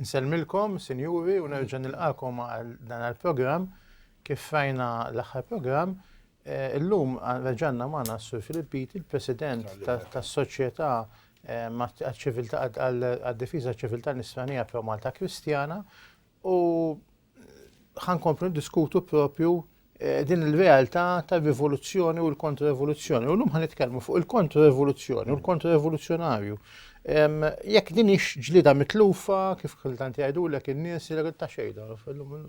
Nsellmilkom, Sinjuri, u nerġa' nilqagħkom għal dan il-programm. Kif rajna l-aħħar programm, illum reġa' għandna magħna s-Sur Filippiti, il-President tas-Soċjetà għad-Difiża għaċ-Ċiviltà Nisranija Pro-Malta Kristjana, u ħankomplu diskutu propju eh, din il-realtà ta' rivoluzzjoni u l-kontraevoluzzjoni. U l-lum ħanitkellmu fuq il-kontraevoluzzjoni u l-kontraevoluzzjonarju. Jekk din ix ġlida mitlufa, kif kultant jgħidu l in-nies li ta' xejda,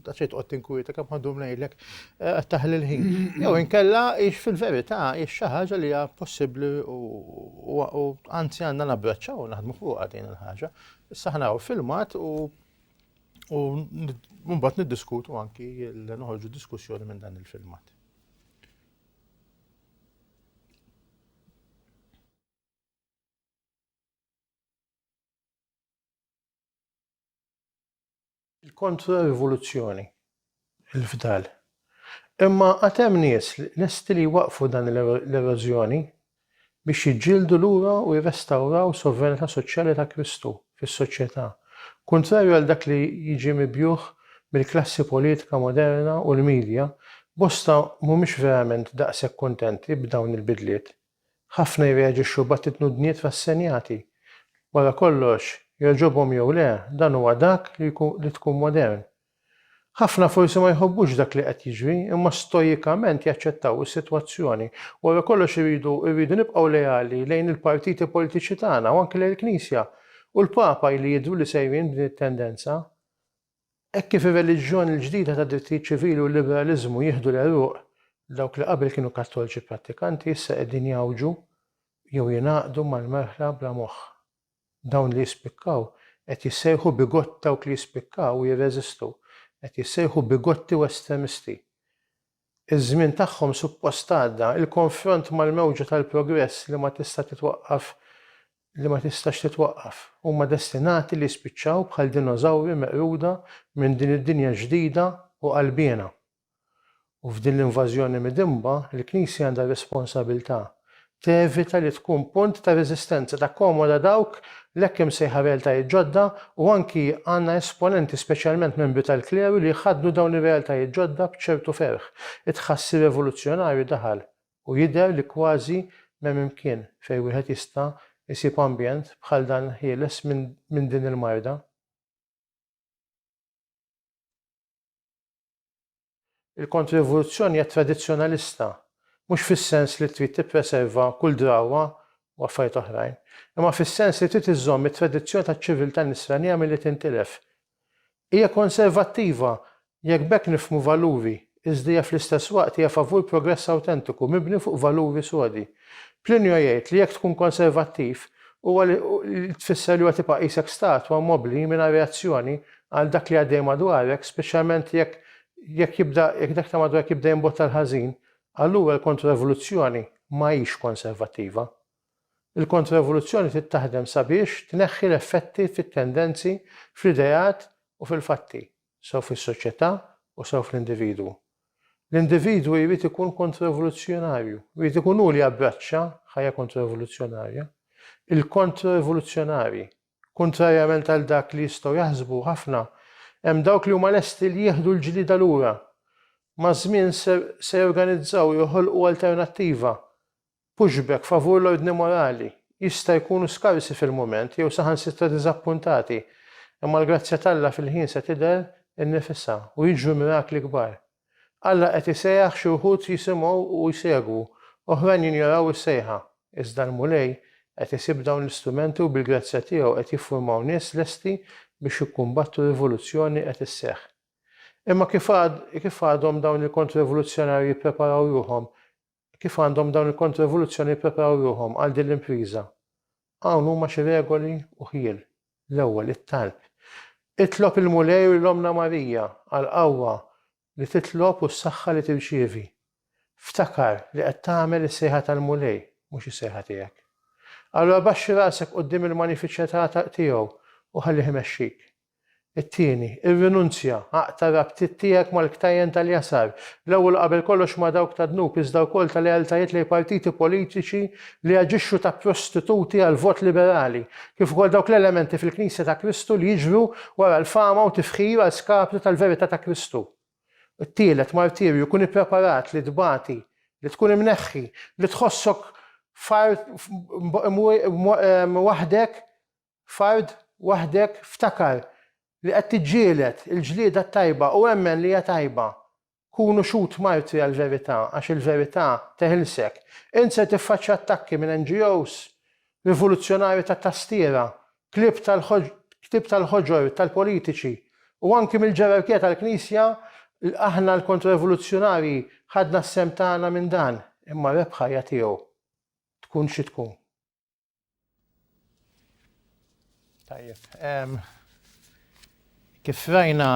ta' xejn tqgħod tinkwieta kemm ħandu mlejlek eh, taħli l-ħin. Jew inkella ix fil-verità ix xi ħaġa li hija possibbli u anzi għandna nabbraċċaw naħdmu fuq din il-ħaġa. Issa ħnaw filmat u U mbagħad niddiskutu anki noħorġu diskussjoni minn dan il-filmat. Il-kontra-rivoluzzjoni. il-fdal. Imma għad hemm nies lesti li jwaqqfu dan l-erożjoni biex jiġġieldu lura u jirrestawraw sovranità soċjali ta' Kristu fis-soċjetà, kuntrarju għal dak li jiġi mibjugħ mill-klassi politika moderna u l-midja, bosta mhumiex verament daqshekk kuntenti b'dawn il-bidliet. Ħafna jirreaġixxu b'attitnudniet rassenjati. Wara kollox, jogħġobhom jew le, dan huwa dak li tkun modern. Ħafna forsi ma jħobbux dak li qed jiġri, imma stoikament jaċċettaw is-sitwazzjoni. Wara kollox irridu irridu nibqgħu leali lejn il-partiti politiċi tagħna u anki lejn il-Knisja. U l-Papa ili jidhru li sejrin b'din it-tendenza. Hekk kif ir-reliġjon il-ġdida tad-drittijiet ċivili u l-liberaliżmu jieħdu l-għeruq, dawk li qabel kienu Kattolċi prattikanti issa qegħdin jgħawġu jew jingħaqdu mal-merħla bla moħħ. Dawn li jispikkaw qed jissejħu bigott dawk li jispikkaw u jirreżistu qed jissejħu bigotti u estremisti. Iż-żmien tagħhom suppost għadda. Il-konfront mal-mewġa tal-progress li ma tista' titwaqqaf li ma tistax titwaqqaf. Huma destinati li jispiċċaw bħal dinożawri meqruda minn din id-dinja ġdida u qalbiena. U f'din l-invażjoni midinba, il-Knisja għandha r-responsabilità tevita li tkun punt ta' reżistenza, takkomoda dawk l-hekk imsejħa realtajiet ġodda u anki għandna esponenti, speċjalment membri tal-kleru, li jħaddnu dawn ir-realtajiet ġodda b'ċertu ferħ. It-tħassir revoluzzjonarju daħal u jidher li kważi m'hemm imkien fejn wieħed jista' jsib ambjent bħal dan ħieles minn din il-marda. Il-Kontririvoluzzjoni hija tradizzjonalista, mhux fis-sens li trid tippreserva kull drawwa u affarijiet oħrajn, imma fis-sens li trid iżżomm it-tradizzjoni taċ-ċiviltà Nisranija milli tintilef. Hija konservattiva, jekk b'hekk nifhmu valuri, iżda hija fl-istess waqt hija favur progress awtentiku mibni fuq valuri sodi. Plinio jgħid li jekk tkun konservattiv, huwa li tfisser li huwa tibqa' qisek statwa mobbli mingħajr reazzjoni għal dak li għaddej madwarek, speċjalment jekk jekk jibda jekk dak ta' madwarek jibda jimbotta l-ħażin, allura l-kontroevoluzzjoni ma hix konservattiva. Il-kontroevoluzzjoni trid taħdem sabiex tneħħi l-effetti fit-tendenzi, fl-ideat u fil-fatti, sew fis-soċjetà u sew fl-individwu. L-individwu jrid ikun kontroevoluzzjonarju, jrid ikun hu li jabbraċċa ħajja kontroevoluzzjonarja. Il-kontroevoluzzjonarji Kuntrarjament għal dak li jistgħu jaħsbu ħafna, hemm dawk li huma lesti li jieħdu l-ġlieda lura. Maż-żmien ser se jorganizzaw u joħolqu alternattiva. Pushback favur l-ordni morali. Jista' jkunu skarsi fil-mument jew saħansitra diżappuntati, imma l-grazzja t'Alla fil-ħin se tidher innifisha u jiġru mirakli kbar. Alla qed isejjaħ xi wħud jisimgħu u jsegwu, oħrajn jinjoraw is-sejħa. Iżda l-Mulej qed isib dawn l-istrumenti u bil-grazzja tiegħu qed jiffurmaw nies lesti biex jikkumbattu rivoluzzjoni qed isseħħ. Imma kif għad, kif għadhom dawn il-kontrerivoluzzjonarji jippreparaw ruħhom Kif għandhom dawn il-kontroevoluzzjoni jippreparaw ruħhom għal din l-impriża? Hawn huma xi regoli u ħjiel. L-ewwel, it-talb. Itlob il-Mulej u lill-Ommna Marija għall-qawwa li titlob u s-saħħa li tirċievi. Ftakar li qed tagħmel is-sejħa tal-Mulej, mhux is-sejħa tiegħek. Allura baxxi rasek quddiem il-magnifiċetà tiegħu u ħallih imexxik. It-tieni, irrinunzja, aqta' rabtiet tiegħek mal-ktajjen tal-jasar, l-ewwel u qabel kollox ma' dawk tad-dnub iżda wkoll ta' lealtajiet lejn partiti politiċi li jaġixxu ta' prostituti għall-vot liberali, kif ukoll dawk l-elementi fil-Knisja ta' Kristu li jiġru wara l-fama u tifħir għal skapitu tal-verità ta' Kristu. It-tielet, martirju, kun ippreparat li tbati, li tkun imneħħi, li tħossok f'qar waħdek Fard waħdek ftakar li qed tiġġieled il-ġlieda t-tajba u emmen li hija tajba. Kun u xhud martri għall-verità għax il-verità teħilsek. Int ser tiffaċċja attakki minn NGOs, rivoluzzjonarji tat-tastiera, klieb tal-klieb tal-ħoġor tal-politiċi u anki mill-ġerarkija tal-Knisja aħna l-kontro-rivoluzzjonarji ħadna s-sehem tagħna minn dan imma r-rebħa hija tiegħu tkun xi tkun. Tajjeb. Kif rajna,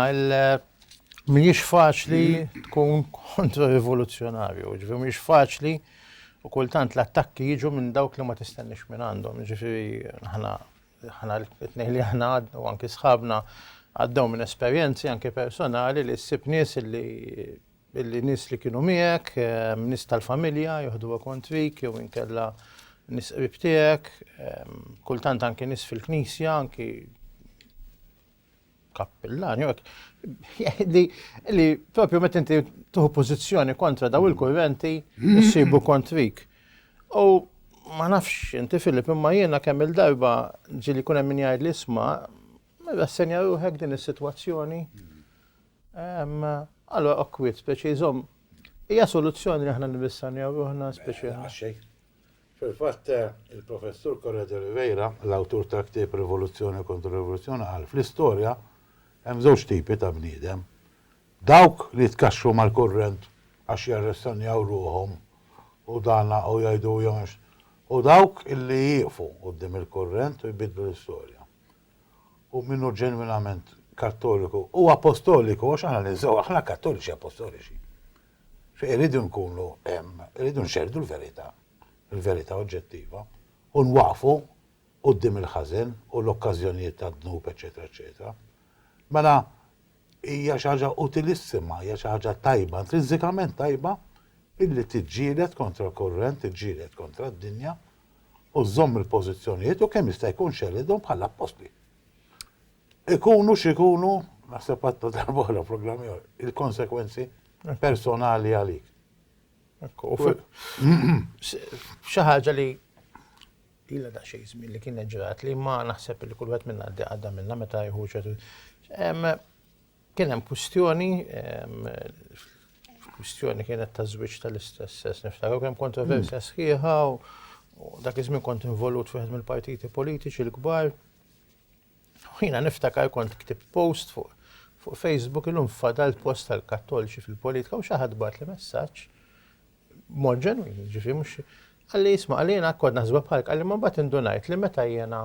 mhijiex faċli tkun kontra rivoluzzjonarju, ġifieri mhijiex faċli u kultant l-attakki jiġu minn dawk li ma tistenniex minn għandhom, ġifieri aħna ħana t-tnejn li ħana u anki sħabna għaddew minn esperjenzi anki personali li ssib nies li Billi nies li kienu miegħek, nies tal-familja joħduha kontrik jew inkella nies qrib tiegħek, kultant anki nies fil-knisja, anki kappillan, li, li propju meta inti tuħu pożizzjoni kontra daw il-kurrenti, jissibu kontrik. U ma nafx inti Filip imma jiena kemm il-darba ġili kun hemm min jgħid li isma' rassenja ruħek din is-sitwazzjoni. Allora okwit, speċi jżomm, hija soluzzjoni li aħna nibissanjaw ruħna speċi. Għaxxej. Fil-fatt, il-professur Correa de Oliveira, l-awtur ta' ktieb Rivoluzzjoni kontra Rivoluzzjoni, qal fl-istorja hemm żewġ tipi ta' bniedem. Dawk li jitkaxxu mal-kurrent għax jarressanjaw ruħhom u dana u jgħidu jew u dawk illi jieqfu quddiem il-kurrent u jbiddlu l-istorja. u min hu ġenwinament Kattoliku u Apostoliku, għax aħna ninsew, aħna Kattoliċi Apostoliċi. Xi irridu nkunu hemm, irridu nxerdu l-verità, il-verità oġġettiva, u nwaqfu quddiem il-ħażen u l-okkażjonijiet tad-dnub, eċċetera, eċċetera. Mela hija xi ħaġa utilissima, hija xi ħaġa tajba, intrinsikament tajba, illi tiġġieled kontra l-kurrent, tiġġieled kontra d-dinja, u żżomm il-pożizzjonijiet u kemm jista' jkun xellidhom bħall-appostli. Ikunu x'ikunu, naħseb għadna darba oħra programm ieħor, il-konsekwenzi personali għalik. Xi ħaġa li illa da xejn żmien li kienet ġrat li ma naħseb li kull wieħed minna għaddi għadda minna meta jħu ċertu. Kien hemm kwistjoni, kwistjoni kienet ta' żwieġ tal-istess sess niftakar kien kontroversja hmm. sħiħa u dak iż-żmien kont involut fi mill-partiti politiċi l-kbar. Ħina niftakar kont ktib post fuq fuq Facebook illum fadal post tal-kattoliċi fil-politika u xaħad bat li messaġġ mod ġenwin, ġifi mhux għalli jisma' għalina kod naħsbu bħalk għalli ma bat indunajt li meta jena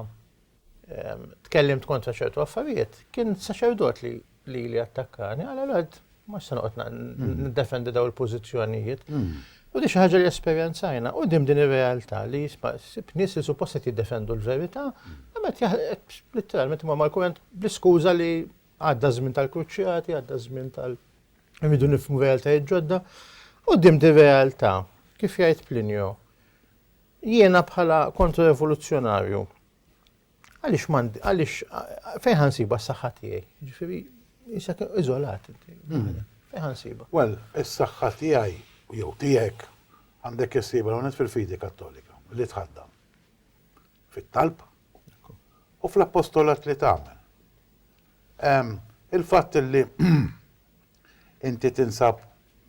tkellimt kontra ċertu affarijiet, kien saċerdot li li li attakkani, għala l-għad ma se noqgħod mm. niddefendi daw il-pożizzjonijiet. Mm. U di xi ħaġa li esperjenzajna u dim din ir-realtà li jisma' sib nies li suppost qed jiddefendu l-verità, imma qed literalment ma mal-kurrent bl-iskuża li għadda żmien tal-kruċjati, għadda żmien tal- Rridu nifmu realtajiet ġodda. U dim di realtà, kif jgħid Plinio, Jiena bħala kontro-revoluzzjonarju, għaliex m'għandi, għaliex fejn ħansiba s-saħħa tiegħi? Ġifieri, issa iżolat. Hmm. Fejn ħansiba? Well, is-saħħa tiegħi jew tiegħek għandek issiba l fil-fidi kattolika li tħaddam fit-talb u fl-appostolat li tagħmel. Il-fatt li Inti tinsab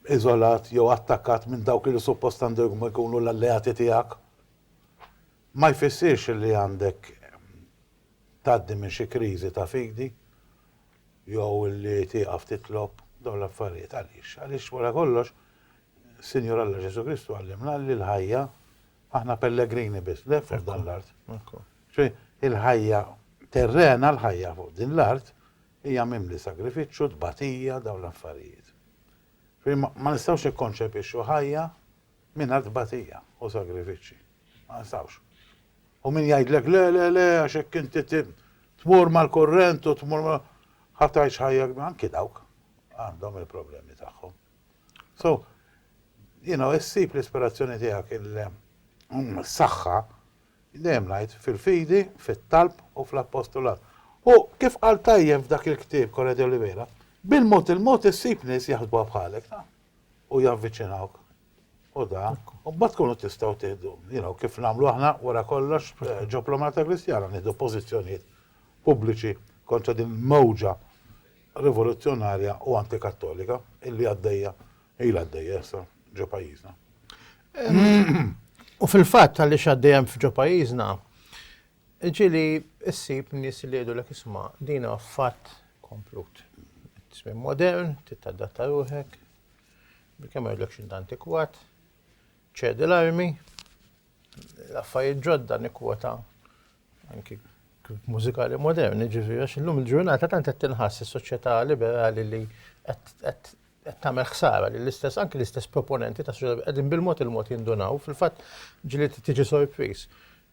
iżolat jew attakkat minn dawk li suppost għandhom ikunu l-alleati tiegħek, ma jfissirx li għandek tgħaddi minn xi kriżi ta' fidi jew li tieqaf titlob dawn l-affarijiet. Għaliex? Għaliex wara kollox, Sinjur Alla Ġesù Kristu għallimna li l-ħajja aħna pellegrini biss, dgħajfa f'dan l-art. Ġifieri, il-ħajja terrena, l-ħajja fuq din l-art, Hija mimli sagrifiċċju, tbatija, dawn l-affarijiet. Ma nistgħux nikkonċepixxu ħajja mingħajr tbatija u sagrifiċċji. Ma nistgħux. U min jgħidlek le le le għax hekk inti tmur mal-kurrent u tmur ma ħa tgħix ħajja anki dawk għandhom il-problemi tagħhom. So, you know, issib l-ispirazzjoni tiegħek il-saħħa mm, Jien dejjem ngħid, fil-fidi, fit-talb u fl-appostolat. U, kif qal tajjeb f'dak il-ktieb Correa de Oliveira, bil-mod il-mod issib nies jaħsbuha bħalek, taf, u javviċinawk. U da, u mbagħad tkunu tistgħu tieħdu, you know, kif nagħmlu aħna wara kollox ġo Plomarta Kristjana, nieħdu pożizzjonijiet pubbliċi kontra din il-mewġa rivoluzzjonarja u antikattolika illi għaddejja Hi l-għaddejja issa ġo pajjiżna. U fil-fatt għaliex għaddejjem f'ġo pajjiżna, ġili ssib nies li jgħidu l-ek isma' dina fatt komplut. Tismin modern, titadatta ruħek, bil-kemm għedlek xint antikwat, ċedi l-armi, l-affarijiet ġodda nikwota anki mużikali moderni, ġifieri għax illum il-ġurnata tant qed tinħass is-soċjetà liberali li qed tagħmel ħsara li l-istess anki l-istess proponenti ta' soċjetà qegħdin bil-mod il-mod jindunaw, fil-fatt ġili tiġi sorpriż.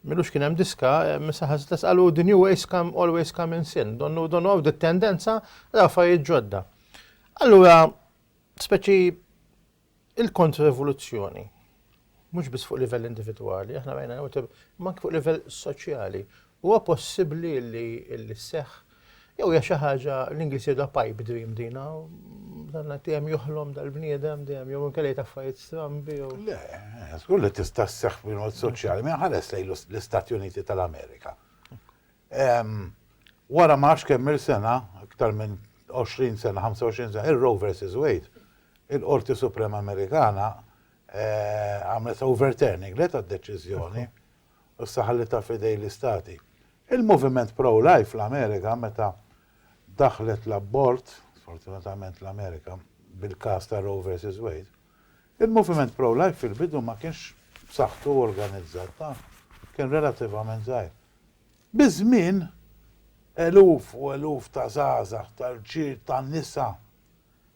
Milux kien hemm diska, misa ħaż l qalu the new ways come always come in sin, donnu donnu għaw tendenza l affarijiet ġodda. Allura, speċi Il-kontrrivoluzzjoni, mhux biss fuq livell individwali, aħna rajna jew tib, imma anke fuq livell soċjali, huwa possibbli li li sseħħ jew hija xi ħaġa l-Ingliż jgħidha pipe dream dina, dan qed dejjem joħlom dal-bniedem dejjem jew inkella jgħid affarijiet strambi jew. Le, żgur li tista' sseħħ bil-mod soċjali, min ħares lejn l-Istati Uniti tal-Amerika. Wara ma nafx kemm-il sena, iktar minn 20 sena, 25 sena, ir-Roe versus Wade, il-Qorti Suprema Amerikana għamlet overturning le tad-deċiżjoni u issa ħallitha f'idejn l-istati. Il-moviment pro-life fl-Amerika meta daħħlet l-abort, sfortunatament l-Amerika, bil-każ ta' Roe versus Wade, il-moviment pro-life fil-bidu ma kienx b'saħħtu organizzat, kien relativament żgħir. Biż-żmien, eluf u eluf ta' żgħażagħ, ta' rġiel, ta' nisa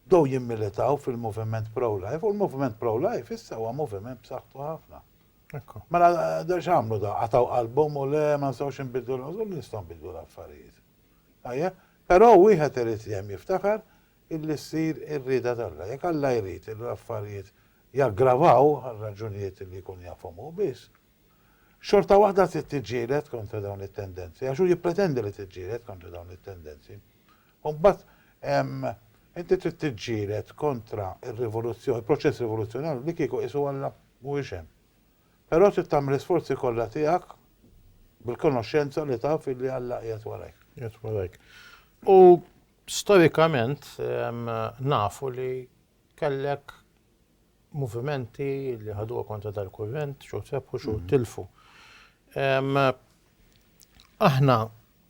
bdew jimmilitaw fil-moviment pro-life u l-moviment pro-life issa huwa moviment b'saħħtu ħafna. Mela x'għamlu dawn? Qatgħu qalbhom u le ma nistgħux inbiddlu l żgur li nistgħu nbiddlu l-affarijiet. Tajjeb? Però wieħed irid dejjem jiftakar illi ssir ir-rieda t'Alla. Jekk Alla jrid li l-affarijiet jaggravaw għal raġunijiet li jkun jafhom hu biss, xorta waħda trid tiġġieled kontra dawn it-tendenzi, għax hu jippretendi li tiġġieled kontra dawn it-tendenzi. U mbagħad inti trid tiġġieled kontra r-rivoluzzjoni, il-proċess rivoluzzjonarju li kieku qisu Alla mhuwiex hemm. Però trid tagħmel l-isforzi kollha tiegħek bil-konoxxenza li taf li Alla qiegħed warajk. Qiegħed warajk. U storikament nafu li kellek movimenti li ħaduha kontra dal-kurrent, xogħol rebħu, xogħol tilfu. Aħna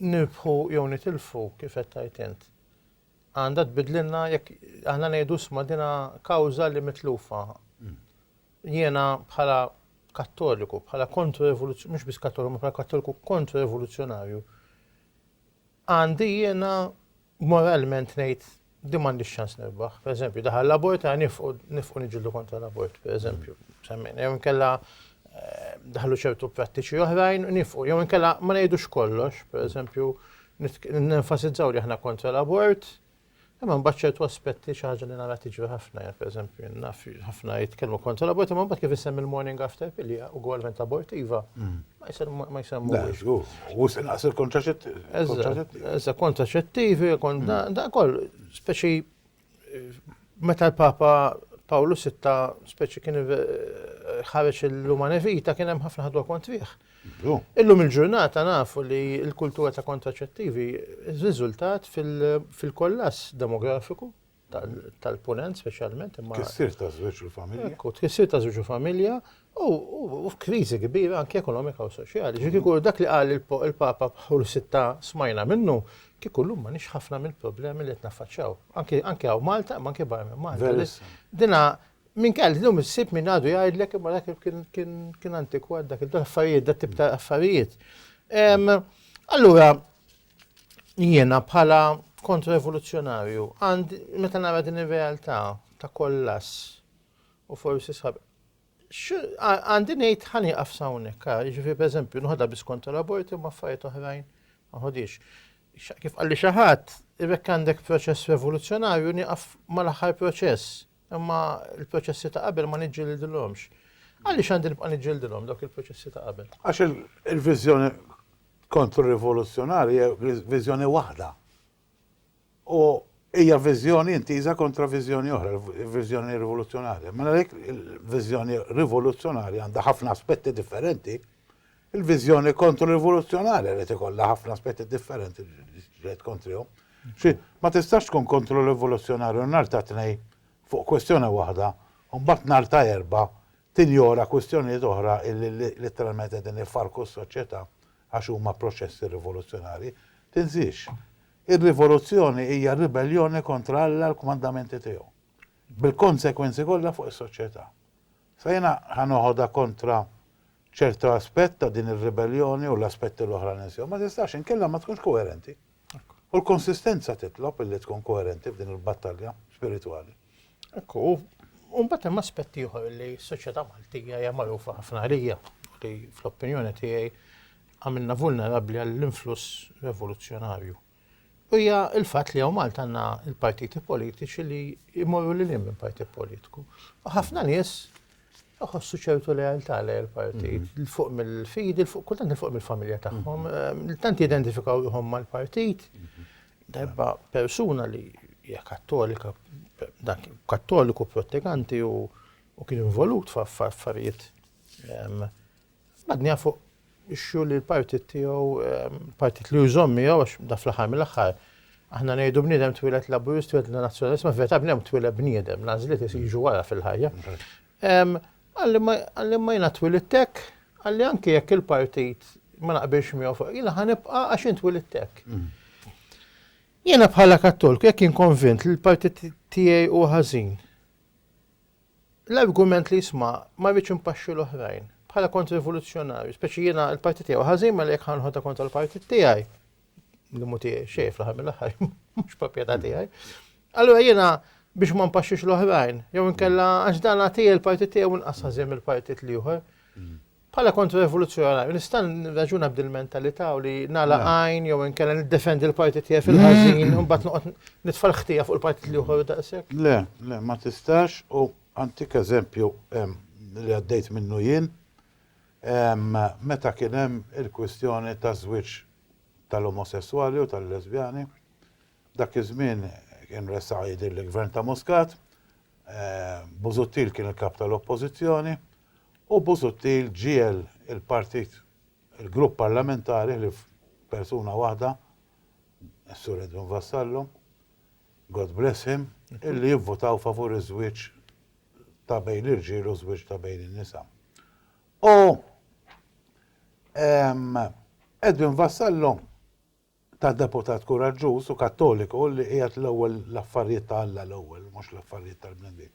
nirbħu jew nitilfu kif qed tajt int. Għandha tbidlilna jekk aħna ngħidu sma dina kawża li mitlufa. Mm. Jiena bħala kattoliku, bħala kontru evoluzzjonarju, mhux biss kattoliku, bħala kattoliku kontru evoluzzjonarju. Għandi jiena Moralment ngħid din m'għandix ċans nirbaħ. Per eżempju, daħal l-abort ta' nifqu nifqu niġildu kontra l-abort, per eżempju. Semmejna, jew inkella eh, daħlu ċertu prattiċi oħrajn nifqu, jew inkella ma ngħidux kollox, per eżempju, nenfasizzaw li aħna kontra l-abort, Imma mbagħad ċertu aspetti xi ħaġa li nara tiġri ħafna, jekk pereżempju naf ħafna jitkellmu kontra l-abort, imma mbagħad kif isem il-morning after pilja u gwalment abortiva. Mm. Ma jsemmuhiex. U sinqas il-kontraċettivi. Eżatt, kontraċettivi, da koll, speċi meta l-Papa Pawlu sitta speċi kien ħareġ l-Umane Vita kien hemm ħafna ħadwa kont fih. Illum il-ġurnata nafu li l-kultura ta' kontraċettivi riżultat fil-kollass demografiku tal-Punent speċjalment imma. Tkissir ta' żwieġ u familja. Ekku, tkissir ta' żwieġ u familja u f'kriżi kbira anke ekonomika u soċjali. Ġifieri kieku dak li qal il-Papa Pawl Sitta smajna minnu, kieku llum ma nix ħafna mill-problemi li qed naffaċċaw. Anke hawn Malta, imma anke barra minn Malta. Dina minn kell llum issib min għadu jgħidlek imma dak kien antikwat dak il-affarijiet, dak tip ta' affarijiet. Allura, Jiena bħala kontra-evoluzzjonarju għand meta nara din ir-realtà ta' kollass u forsi sab għandi ngħid ħani għafsawnek, ġifi per eżempju, nħodha bis kontra l-aborti u maffariet oħrajn, nħodix. Kif għalli xaħat, irrek għandek proċess revoluzzjonarju niqaf mal-aħħar proċess. Imma l-proċessi ta' qabel ma niġġildilhomx. Għaliex għandi nibqa' niġġildilhom dawk il-proċessi ta' qabel? Għax il-viżjoni kontro-rivoluzzjonarja hija viżjoni waħda. U hija viżjoni intiża kontra viżjoni oħra, viżjoni rivoluzzjonarja. Mela għalhekk il-viżjoni rivoluzzjonarja għandha ħafna aspetti differenti Il-viżjoni kontro-rivoluzzjonarja rrid ikollha ħafna aspetti differenti li ġġieled kontrihom. Xi, ma tistax tkun kontro-rivoluzzjonarju nhar ta' Tnejn fuq kwistjoni waħda u mbagħad nhar ta' Erbgħa tinjora kwistjonijiet oħra illi litteralment qegħdin ifarrku s-soċjetà għax huma proċessi rivoluzzjonarji. Tinsiex, ir-rivoluzzjoni hija ribelljoni kontra Alla l-kmandamenti tiegħu, bil-konsegwenzi kollha fuq is-soċjetà. Sa jiena ħa noħodha kontra ċertu aspett ta' din ir-ribelljoni u l-aspetti l-oħra ninsew. Ma tistax, inkella ma tkunx koerenti. U l-konsistenza titlob illi tkun koerenti f'din il-battalja spiritwali. Hekk hu. U mbagħad hemm aspett ieħor illi s-soċjetà Maltija hija magħrufa ħafna għalija, li fl-opinjoni tiegħi għamilna vulnerabbli għall-influss revoluzzjonarju. Hija l-fatt li hawn Malta għandna l-partiti politiċi li jmorru lil hinn minn partit politiku. U ħafna nies ħossu ċertu lealtà lej il-partit, mhm. fuq mill-fidi, fuq kultant fuq mill-familja tagħhom, mhm. eh, tant jidentifikaw ruħhom mal-partit. Mhm. Darba persuna li hija kattolika, dak kattoliku protteganti u kien involut f'affarijiet Badniha fuq issue li l-partit tiegħu, l-partit li hu jżomm miegħu għax da fl-aħħar mill-aħħar aħna ngħidu bniedem twieled Laburist, twieled Nazzjonalist, ma fil-verità bniedem twieled bniedem, l-għażliet jiġu wara fil-ħajja. Qalli imma jiena twilidt hekk, qalli anke jekk il-partit ma naqbilx miegħu fuq, jiena ħa nibqa' għax jien twilidt hekk. Jiena bħala Kattolku jekk jien konvint li l-partit tiegħi hu ħażin, L-argument li jisma' ma jridx impaxxi l-oħrajn, bħala kont rivoluzzjonarju, speċi jiena l-partit tiegħi hu ħażin mela jekk ħa nħodha kontra l-partit tiegħi, li mhu tiegħi xejn fl-aħħar mill-aħħar, mhux proprjetà tiegħi, allura jiena biex ma mpaxxix l-oħrajn, jew inkella għax dan għad hija l-partit tiegħi u nqas ħażin mill-partit l-ieħor. Bħala kontra-rivoluzzjonarju nista' nirraġuna b'din il-mentalità u li nagħlaq għajn jew inkella niddefendi l-partit tiegħi fil-ħażin u mbagħad noqgħod nitfa' l-ħtija fuq il-partit l-ieħor daqshekk? Le, le, ma tistax u antik eżempju li għaddejt minnu jien meta kien hemm il-kwistjoni taż-żwieġ tal-omosesswali u tal-lesbjani. Dak iż-żmien kien ressaq jidhirli l-Gvern ta' Muscat, Busuttil kien il-Kap tal-Oppożizzjoni U Busuttil ġiegħel il-partit, il-grupp parlamentari ħlief persuna waħda, is-Sur Edwin Vassallo, God bless him, illi jivvutaw favur iż-żwieġ ta' bejn l-irġiel u żwieġ ta' bejn in-nisa. U Edwin Vassallo, ta' deputat kuraġġuż u Kattoliku li qiegħed l-ewwel l-affarijiet ta' Alla l-ewwel, mhux l-affarijiet tal-bnedmin.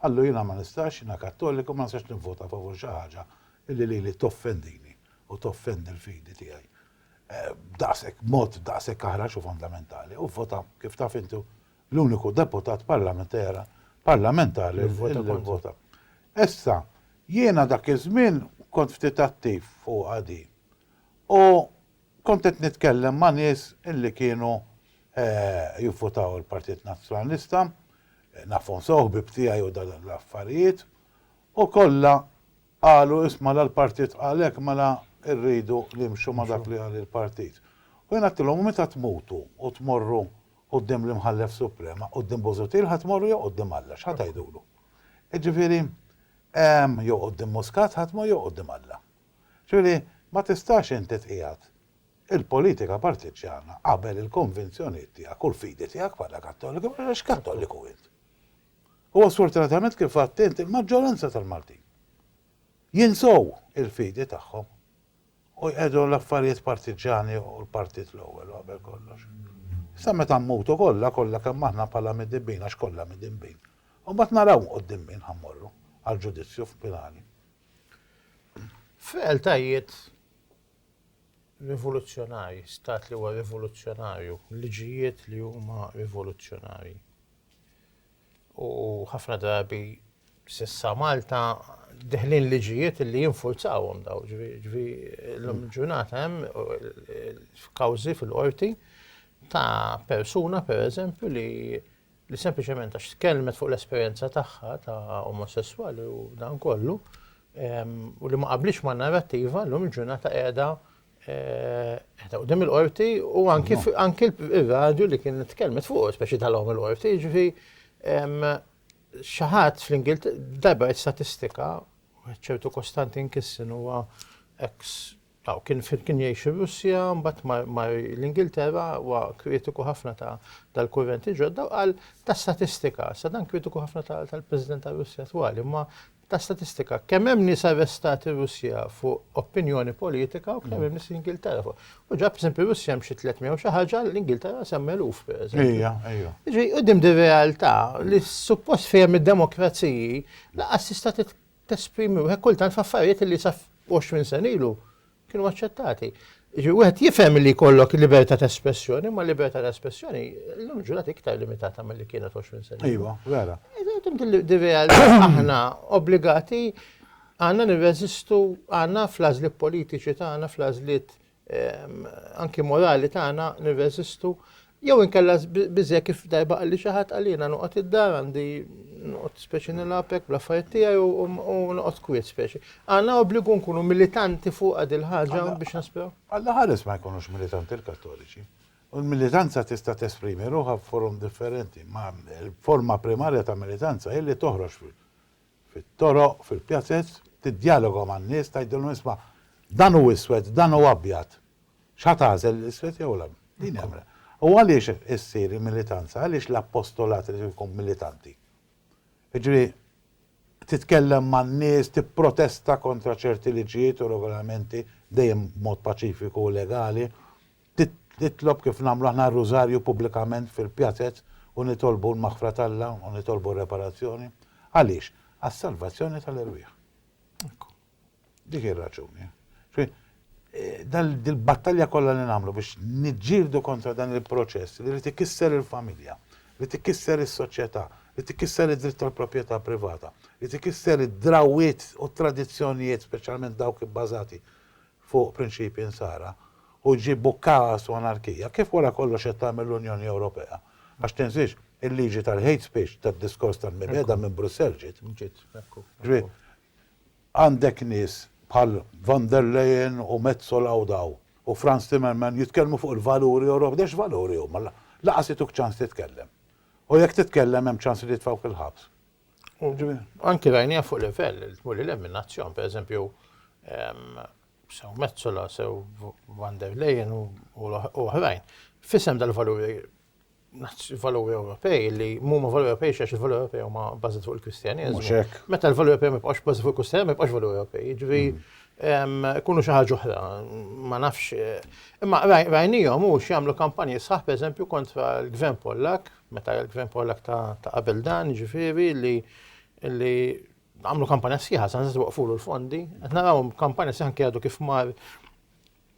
Qallu, Jiena ma nistax, jiena Kattoliku, ma nistax nivvota favur xi ħaġa li lili toffendini u toffendi l-fidi tiegħi b'daqshekk, b'mod daqshekk aħrax u fondamentali. U vvota, kif taf inti, l-uniku deputat parlamentera, parlamentari li vvota kontra. Li vvota kontra. Issa, jiena dak iż-żmien kont ftit attiv fuqha din. U Kont qed nitkellem ma' nies li kienu jivvutaw il-Partit Nazzjonalista, nafhom sew, ħbieb tiegħi u dan l-affarijiet, u kollha qalu iss mela l-Partit qal hekk mela rridu nimxu ma' dak li qal il-Partit. U jien għedtilhom u meta tmutu u tmorru quddiem l-Imħallef Suprem, a quddiem Busuttil ħa tmorru jew quddiem Alla, x'ħa tgħidulu? Jiġifieri, jew quddiem Muscat ħa tmur jew quddiem Alla. Ġifieri li ma tistax inti tqiegħed il-politika partiġġjana qabel il-konvinzjonijiet tiegħek u l-fidi tiegħek bħala Kattoliku għax Kattoliku int. U sfortunatament kif għedt int il-maġġoranza tal-Maltin jinsew il-fidi tagħhom u jqiegħdu l-affarijiet partiġġjani u l-partit l-ewwel u qabel kollox. Issa meta mmutu kollha, kollha kemm aħna bħala midinbin għax kollha midinbin, imbagħad naraw quddiem min ħa mmorru għall-ġudizzju finali. F'realtajiet rivoluzzjonarji, stat li huwa rivoluzzjonarju, liġijiet li huma rivoluzzjonarji. U ħafna drabi sissa Malta deħlin liġijiet li jinfurzawhom daw, ġvi l-lum mm. ġurnata hemm kawżi fil-qorti ta' persuna per eżempju li li sempliċement għax tkellmet fuq l-esperjenza tagħha ta' omosesswali u dan kollu, u li ma qablitx ma' narrattiva llum il-ġurnata qiegħda qiegħda qudiem il-qorti u anki anki r-radju li kien tkellmet fuq, speċi tal-għom il-qorti, ġifi xaħat fl-Ingilterra, darba statistika, ċertu Kostantin Kissen huwa ex Aw kien kien jgħix ir-Russja, mbagħad mar mar l-Ingilterra, huwa kritiku ħafna ta' dal-kurrenti ġodda u qal ta' statistika, sa dan kritiku ħafna tal-President tar-Russja twali, imma ta' statistika, kemm hemm nies arrestati r-Russja fuq opinjoni politika u kemm hemm nies l-Ingilterra fuq. U ġab eżempju Russja hemm xi 300 u xi ħaġa l-Ingilterra sem eluf pereżempju. Ejja, ejja. Ġi qudiem di realtà li suppost fejn id-demokraziji laqas tista' tesprimi wieħed kultant f'affarijiet li sa 20 sena ilu kienu aċċettati. Ġi wieħed jifhem li jkollok libertà ta' espressjoni, ma libertà ta' espressjoni l-lum ġulat iktar limitata mill-li kienet 20 sena. Iva, vera. Di realtà aħna obbligati għandna nirreżistu għandna fl-għażliet politiċi tagħna, fl-għażliet anki morali tagħna nirreżistu jew inkella biżej kif darba qalli xi ħadd għalina noqgħod id-dar għandi noqgħod speċi nilabek bl-affarijiet tiegħi u noqgħod kwiet speċi. Għandna obbligu nkunu militanti fuq għad il-ħaġa biex nisperaw. Alla ħares ma jkunux militanti l-Kattoliċi. U l-militanza tista' tesprimi ruħha f'forum differenti, ma l-forma primarja ta' militanza hi li toħroġ fit-toroq, fil-pjazez, tiddjaloga man-nies, tgħidilhom isma' dan hu iswed, dan hu abjad. X'ħa tagħżel l-iswed jew l-abjad? Din hi l-. U għaliex issir il-militanza, għaliex l-appostolat irid ikun militanti? Jiġifieri titkellem man-nies, tipprotesta kontra ċerti liġijiet u regolamenti, dejjem b'mod paċifiku u legali. Nitlob kif nagħmlu aħna r-Rużarju pubblikament fil-pjazez u nitolbu l-maħfra t'Alla u nitolbu r-reparazzjoni. Għaliex? Għas-salvazzjoni tal-erwieħ. Ekku. Dik hi r-raġuni. Dil-battalja kollha li nagħmlu biex niġġieldu kontra dan il-proċess li jrid ikisser il-familja, jrid ikisser is-soċjetà, jrid ikisser id-dritt tal-proprjetà privata, jrid ikisser id-drawwiet u t-tradizzjonijiet speċjalment dawk ibbażati fuq prinċipji Nsara u ġġib u kaos u anarkija, kif wara kollox qed tagħmel l-Unjoni Ewropea? Għax tinżiex, il-liġi tal-hate speech, tad-diskors tal-mibegħda minn Brussell ġiet. Ġiet, ekku. Ġifieri, għandek nies bħal Von der Leyen u Metsola u daw, u Frans Timmerman jitkellmu fuq il-valuri Ewropej, de x'valuri huma? Lanqas ituk ċans titkellem. U jekk titkellem hemm ċans li jitfgħuk il-ħabs. Anki rajniha fuq livell li tmur lil hemm minn nazzjon, pereżempju sew Metsola, sew Van der Leyen u oħrajn, f'isem dal-valuri valuri Ewropej li mhuma valuri Ewropej x'għax il-valuri Ewropej huma bbażati fuq il-Kristjaneżmu. Meta l-valuri Ewropej ma jibqgħux bbażati fuq il-Kristjaneżmu ma jibqgħux valuri Ewropej. Jiġri jkunu xi ħaġa oħra, ma nafx. Imma rajnihom hux jagħmlu kampanji sħaħ pereżempju kontra l-Gvern Pollak Meta il-Gvern Pollak ta' qabel dan, jiġifieri li li għamlu kampanja sħiħa, sa' nżidu waqfulu l-fondi, qed naraw kampanja sħiħa anke għadu kif mar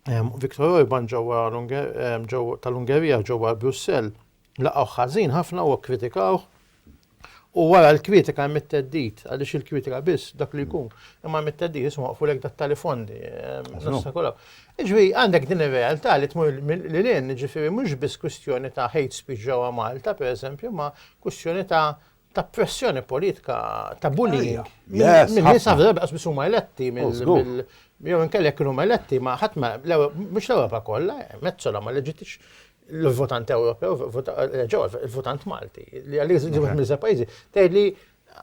Viktor Orban ġewwa tal-Ungerija ġewwa Brussell laqgħu ħażin ħafna u kkritikaw. U wara l-kritika hemm it-teddit, għaliex il-kritika biss dak li jkun. Imma hemm it-teddit isma' waqfulek dat-tali fondi. Jiġifieri għandek din ir-realtà li tmur lil hinn, jiġifieri mhux biss kwistjoni ta' hate speech ġewwa Malta, pereżempju, imma kwistjoni ta' ta' pressjoni politika, ta' bullying. Minn nies ħafna drabi qas biss huma eletti mill jew inkella jekk huma eletti ma ħadd ma mhux l-Ewropa kollha, mezzola ma leġitix l-votant Ewropew, il-votant Malti, li għalli jiżvot mill pajjiżi, tgħidli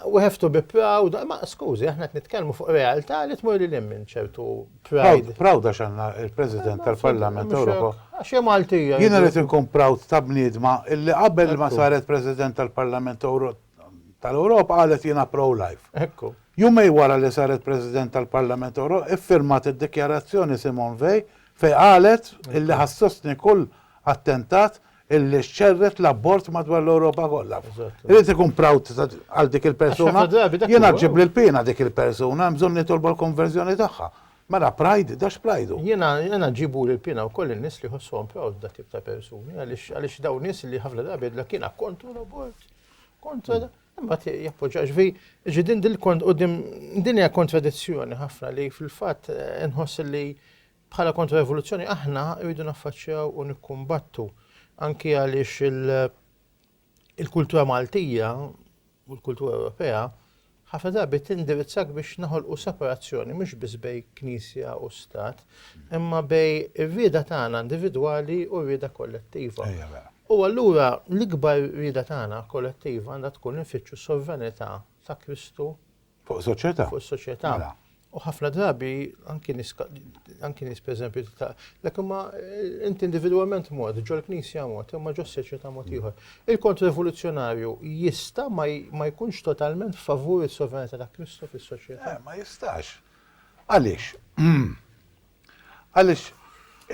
We have to be proud, ma skużi, aħna qed nitkellmu fuq realtà li tmur lil hemm minn ċertu pride. Proud għax għandna il-President tal-Parlament Ewropew. Għax hija Maltija. Jiena rrid inkun proud ta' bniedma illi qabel ma saret President tal-Parlament Ewropew tal-Ewropa qalet jiena pro-life. Ekku. Jumej wara li saret President tal-Parlament Ewropew iffirmat id-dikjarazzjoni Simon Vej fej qalet illi ħassostni kull attentat illi xċerret l-abort madwar l-Ewropa kollha. Irid ikun proud għal dik il-persuna. Jiena ġib lil pina dik il-persuna, hemm bżonn nitolbu l-konverżjoni tagħha. Mela pride, dax prajdu. Jiena jiena ġibu lil pina wkoll in-nies li jħossuhom proud dak tip ta' persuni għaliex għaliex dawn nies li ħafna drabi la kiena kontra l-abort, kontra imma jappoġġa ġvi, ġi din din kont u din hija kontradizzjoni ħafna li fil-fatt eh, nħoss li Bħala Kontra-Rivoluzzjoni aħna rridu naffaċċjaw u nikkumbattu anki għaliex il-kultura Maltija u l-kultura Ewropea ħafna drabi tindirizzak biex naħolqu separazzjoni mhux biss bej knisja u stat, imma bej ir-rieda tagħna individwali u r-rieda kollettiva. U allura l-ikbar rieda tagħna kollettiva għandha tkun infittxu s-sovranità ta' Kristu Fuq is-soċjetà. Fuq is-soċjetà. Mela. U ħafna drabi anki nies anki nies pereżempju ta' dak imma eh, inti individwalment mod, ġol-Knisja mod, imma ġos-soċjetà mod mm. ieħor. Il-kontrrivoluzzjonarju jista' ma jkunx totalment favur is-sovranità ta' Kristu fis-soċjetà. Eh, ma jistax. Għaliex? Għaliex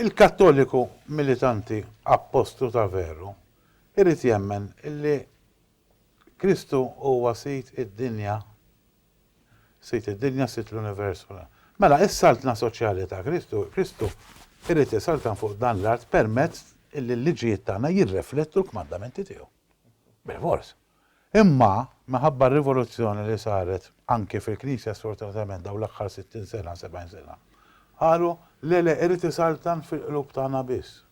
il-Kattoliku militanti appostu ta' veru irrid jemmen illi Kristu huwa Sid id-dinja, Sid id-dinja, Sid l-univers. Mela, is-Saltna soċjali ta' Kristu, Kristu irid isaltan fuq dan l-art permezz illi l-liġijiet tagħna jirreflettu l-kmandamenti tiegħu. Bilfors. Imma, minħabba r-rivoluzzjoni li saret anki fil-Knisja sfortunatament dawn l-aħħar sittin sena, sebgħin sena, qalu, le, le, irid isaltan fil-qlub tagħna biss.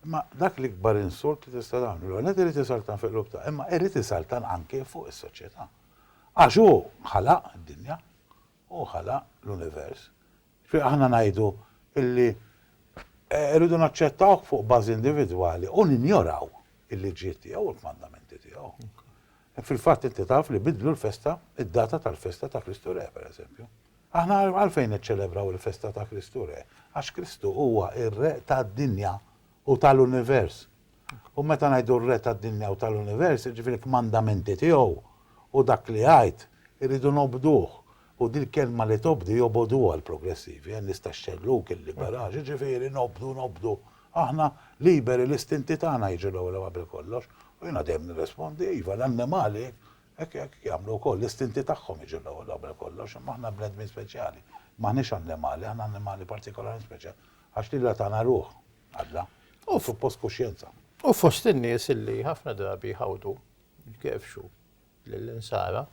Imma dak l-ikbar insult li tista' tagħmlu. L-ewwel nett irid isaltan fil-qlub ta' imma irid isaltan anke fuq is-soċjetà. Għax hu ħalaq id-dinja, hu ħalaq l-univers. Jiġifieri aħna ngħidu illi rridu naċċettawh fuq bażi individwali u ninjoraw il-liġijiet tiegħu u l-kmandamenti tiegħu. Fil-fatt inti taf li biddlu l-festa, id-data tal-festa ta' Kristu Re, pereżempju. Aħna għalfejn niċċelebraw il-festa ta' Kristu Re? Għax Kristu huwa r-Re tad-dinja u tal-univers. U meta ngħidu r-Re tad-dinja u tal-univers, jiġifieri l-kmandamenti tiegħu u dak li jgħid, irridu nobduh. U din il-kelma li tobdu jobogħduha l-progressivi, għen nies tax-xellug, il-liberali, jiġifieri nobdu, nobdu. Aħna liberi, l-istinti tagħna jiġu l-ewwel qabel kollox. U jiena dejjem nirrispondi, iva, l-annimali Hekk jagħmlu wkoll l-istinti tagħhom jiġu l-ewwel qabel kollox, imma aħna bnedmin speċjali. M'aħniex annimali, aħna annimali partikolarment speċjali, għax lilha tana ruħ, Alla, u suppost kuxjenza. U fost in-nies li ħafna drabi jħawdu, jkerfxu lill-Insara,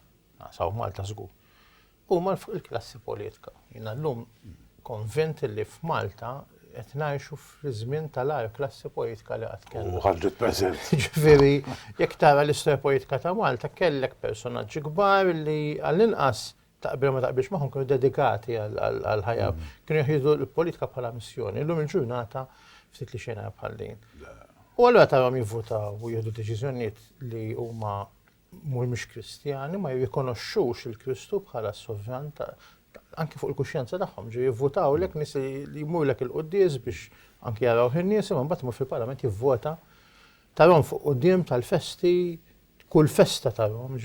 naqsaw Malta żgur, U mal fuq il-klassi politka. Jiena llum konvint li f'Malta qed ngħixu fl-iżmien tal-agħar klassi politka li qatt kellna. U ħarġet preżent. Ġifieri jekk tara l-istorja politika ta' Malta kellek personaġġi kbar li għall-inqas taqbel ma taqbilx magħhom kienu dedikati għall-ħajja. Kienu jieħdu l-politika bħala missjoni. Illum il-ġurnata ftit li xejn bħal din. U allura tarhom jivvutaw u jieħdu deċiżjonijiet li huma mhumiex Kristjani ma jirrikonoxxux lil Kristu bħala s-Sovran ta' anki fuq il-kuxjenza tagħhom, ġi jivvutawlek nies li jmurlek il-quddies biex anki jaraw in-nies, imma mbagħad imur fil-Parlament jivvota tarhom fuq quddiem tal-festi, kull festa tarhom,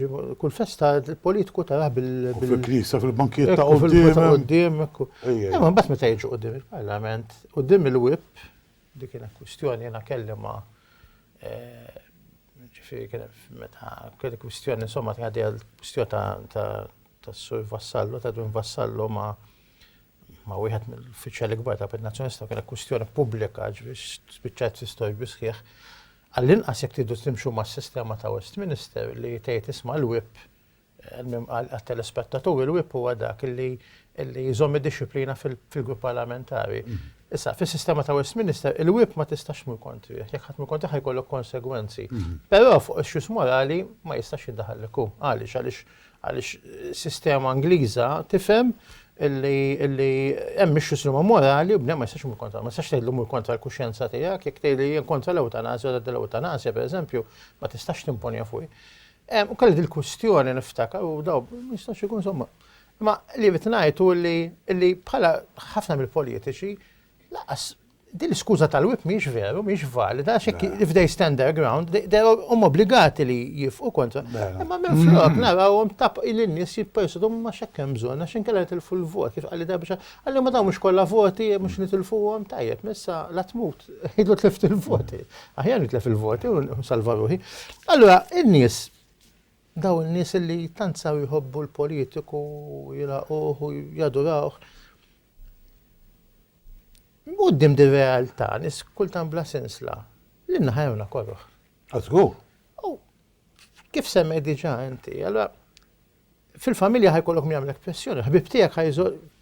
kull festa il-politiku tarah bil. Fil-knisa, fil-bankiet ta' quddiem. Imma mbagħad meta jiġu quddiem il-Parlament, quddiem il-wib, Dik kienet kwistjoni jiena kelli ma' ġifieri kien hemm meta kelli kwistjoni insomma kien għaddejja l-kwistjoni tas-Sur Vassallo, ta' Edwin Vassallo ma' wieħed mill-uffiċjali kbar tal-Partit Nazzjonalista, kienet kwistjoni pubblika ġifieri spiċċajt fi storbi sħiħ. Għallinqas jekk tridu timxu mas-sistema ta' Westminster li tgħid isma' l-Whip Almumm għat-telespettaturi l-whip huwa dak li jżomm id-dixxiplina fil-grupp parlamentari. Issa, fis-sistema ta' Westminister, il-whip ma tistax tmur kontrih. Jekk ħadd imur kontrih ħa jkollok konsegwenzi. Però fuq issues morali ma jistax jiddaħħal lek hu. Għaliex? Għaliex is-sistema Ingliża tifhem li hemm issues li huma morali u bniedem ma jistax imur kontrihom. Ma tistax tgħidlu mur kontra l-kuxjenza tiegħek. Jekk tgħidli jien kontra l-ewtanasja u ngħidilha l-ewtanasja, pereżempju, ma tistax timponiha fuqi. Hemm ukoll din il-kwistjoni niftakar u daw ma jistax ikun somma. Imma li qed ngħid hu li li bħala ħafna mill-politiċi laqas din l-iskuża tal-whip mhijiex veru, mhijiex valida, għax jekk if they stand their ground, they are huma obbligati li jifqu kontra. Imma minn flok narawhom tap lin-nies jippersudu ma x'hekk hemm bżonn għax inkella nitilfu l-vot kif qal li darba xi għalli ma dawn mhux kollha voti mhux nitilfuhom tajjeb, issa la tmut jgħidlu tlift il-voti. Aħjar nitlef il-voti u nsalva ruħi. Allura, in-nies, daw in-nies li tant saw jħobbu l-politiku, jilaquh u jadurawh, Uddim di realtà, nis kultan bla sensla, li naħajruna korruħ. Għazgur. Kif semmej diġa inti, allora Fil-familja ħajkollok min jagħmlek pressjoni, ħbib tiegħek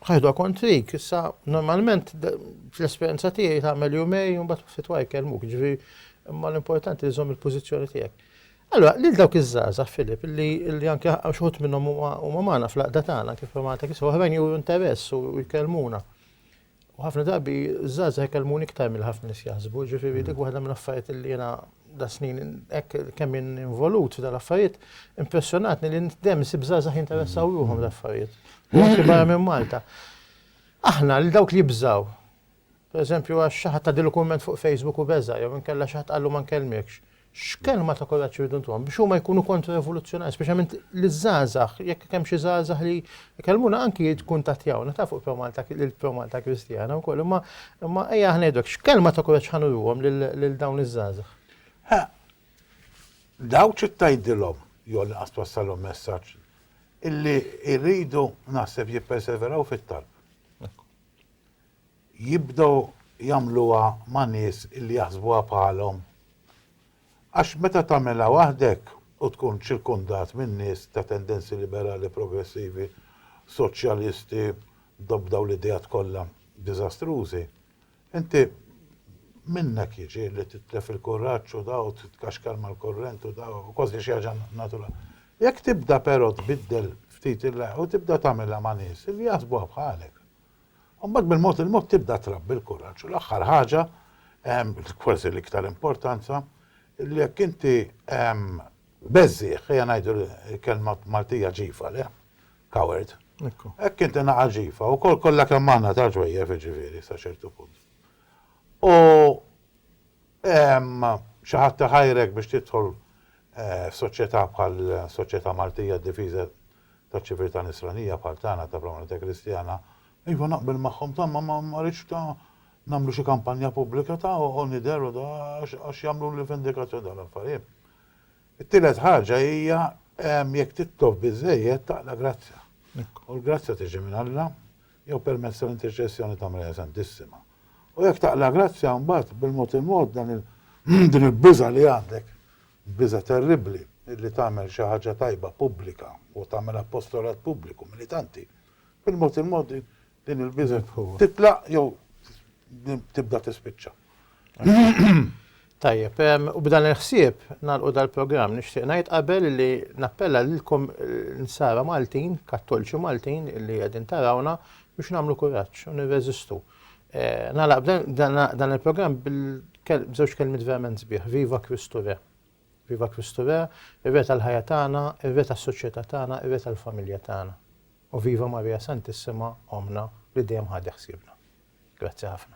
ħajħdu kontrik, issa normalment l-esperjenza tiegħi tagħmel jumej u mbagħad ftit wara jkellmuk, ġifi imma l-importanti li żomm il-pożizzjoni tiegħek. Allora, lil dawk iż-żaza, Filip, li anke xħut minnhom huma magħna fl-aqda tagħna kif Malta kif oħrajn juru interess u jkellmuna. U ħafna drabi żgħażagħ ikellmuni iktar mill ħafna nies jaħsbu, ġifieri dik waħda mill-affarijiet li jiena da snin hekk kemm involut f'dan l-affarijiet, impressjonatni li dem sib żgħażagħ jinteressaw ruhom l-affarijiet. Anke barra minn Malta. Aħna li dawk li jibżaw. Per eżempju għax xi ħadd ta' dilukument fuq Facebook u beża' jew inkella xi ħadd qallu ma nkellmekx. X'kelma ta' kuraġġ irridu ntuhom biex huma jkunu kontra-rivoluzzjonarji, speċjalment liż-żgħażagħ, jekk kemm xi żgħażagħ li jkellmuna anki jikkuntattjawna ta' fuq ProMalta lil ProMalta Kristjana wkoll, imma imma ejja aħna ngħidu hekk, x'kelma ta' kuraġġ ħa nuruhom lil dawn iż-żgħażagħ? Ħa dawk xi tgħidilhom jew l-inqas twassalhom messaġġ illi jridu naħseb jipperseveraw fit-talb. jibdew jagħmluha ma' nies li jaħsbuha bħalhom. Għax meta tagħmilha waħdek u tkun ċirkundat minn nies ta' tendenzi liberali, progressivi, soċjalisti, b'dawn l-ideat kollha diżastrużi, inti minnek jiġi li titlef il-kuraġġ u daw titkaxkar mal-kurrent u daw, kważi xi ħaġa naturali. Jekk tibda però tbiddel ftit il-, u tibda tagħmilha ma' nies li jaħsbuha bħalek, U mbagħad mill-mod il-mod tibda trabbi l-kuraġġ. U l-aħħar ħaġa, kważi l-iktar importanza, li jekk inti beżżieħ, ejja ngħidu l-kelma Maltija ġifa le, coward. Hekk inti naqa' ġifa, ukoll kollha kemm aħna ta' ġwejjef jiġifieri sa ċertu punt. U xi ħadd iħajrek biex tidħol f'soċjetà bħal soċjetà Maltija d-difiża ta' ċiviltà nisranija bħal tagħna ta' prominenza Kristjana, iva naqbel magħhom ta' ma ma ma rridx ta' nagħmlu xi kampanja pubblika ta' u nidher u da għax għax jagħmluli vendikazzjoni dawn l-affarijiet. It-tielet ħaġa hija jekk tittof biżżejjed taqla' grazzja. U l-grazzja tiġi minn Alla jew permezz tal-interċessjoni ta' Marija Santissima. U jekk taqla' grazzja mbagħad bil-mod il-mod dan il din il-biża' li għandek Biża' terribbli li tagħmel xi ħaġa tajba pubblika u tagħmel appostolat pubbliku militanti. Bil-mod il-mod din din il-biża' titlaq jew tibda tispiċċa. Tajjeb, u b'dan il-ħsieb nagħlqu dal-programm. Nixtieq ngħid qabel li nappella lilkom l-insara Maltin, Kattolċi Maltin li qegħdin tarawna biex nagħmlu kuraġġ u nirreżistu. Nagħlaq dan il-programm b'żewġ kelmiet verament sbieħ, Viva Kristu Re! Viva Kristu Re, ir-Re tal-ħajja tagħna, ir-Re tas-soċjetà tagħna, ir-Re tal-familja tagħna. U viva Marija Santissima, Ommna li dejjem ħadet ħsiebna. Grazzi ħafna.